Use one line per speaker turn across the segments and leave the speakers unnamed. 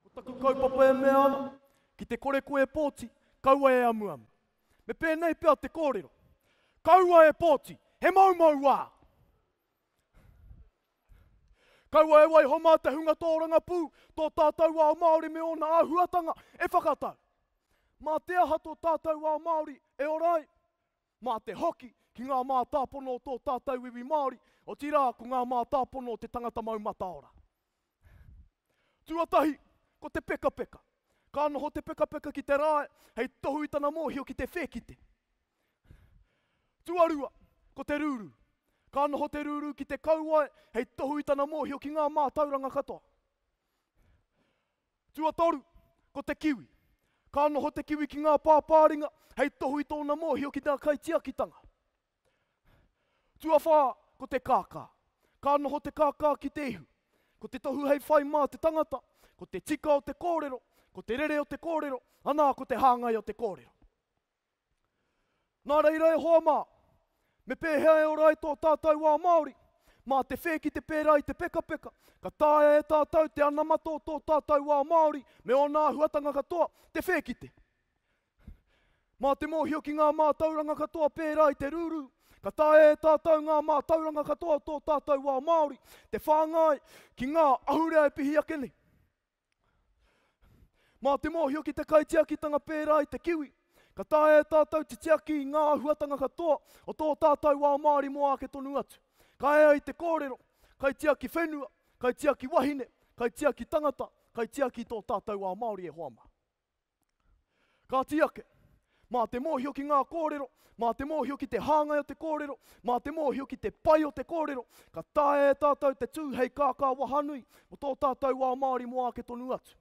Ko taku kaupapa e mea ana, ki te kore koe e pōti, kaua e amuamu. Me pēnei pea te kōrero, Kaua e pōti, he moumou wā! Kaua e waiho mā te hunga tōrangapū, tō tātou ao Māori me ōna āhuatanga e whakatau. Mā te aha tō tātou ao Māori e ora ai? Mā te hoki ki ngā mātāpono o tō tātou iwi Māori, otirā ko ngā mātāpono o te tangata mau mataora. Tuatahi, ko te pekapeka. Ka noho te pekapeka ki te rae hei tohu i tana mōhio ki te whēkite. Tuarua, ko te rūrū. Ka noho te rūrū ki te kauae hei tohu i tana mōhio ki ngā mātauranga katoa. Tuatoru, ko te kiwi. Ka noho te kiwi ki ngā pāpāringa hei tohu i tōna mōhio ki ngā kaitiakitanga. Tuawhā, ko te kākā. Ka noho te kākā ki te ihu. Ko te tohu hei whai mā te tangata, ko te tika o te kōrero, ko te rere o te kōrero, anā, ko te hāngai o te kōrero. Nā reira e hoa mā, me pēhea e ora ai tō tātou wā Māori? Mā te whē ki te pērā i te pekapeka, ka taea e tātou te anamata o tō tātou wā Māori me ōna āhuatanga katoa, te whē ki te. Mā te mōhio ki ngā mātauranga katoa pērā i te rūrū, ka taea e tātou ngā mātauranga katoa o tō tātou wā Māori, te whāngai ki ngā ahurea e pihi ake nei. Mā te mōhio ki te kaitiakitanga pērā i te kiwi, ka taea e tātou te tiaki i ngā āhuatanga katoa o tō tātou ao Māori mō āke tonu atu. Ka ea i te kōrero, kaitiaki whenua, kaitiaki wahine, kaitiaki tangata, kaitiaki i tō tātou ao Māori e hoa mā. Kāti ake, mā te mōhio ki ngā kōrero, mā te mōhio ki te hāngai o te kōrero, mā te mōhio ki te pai o te kōrero, ka taea e tātou te tū hei kākā wahanui mō tō tātou ao Māori mō āke tonu atu.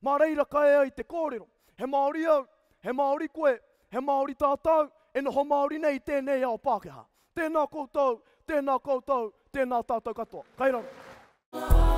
Mā reira ka ea i te kōrero, he Māori au, he Māori koe, he Māori tātou, e noho Māori nei i tēnei ao Pākehā. Tēnā koutou, tēnā koutou, tēnā tātou katoa. Kai raro. Ngā Manu Kōrero.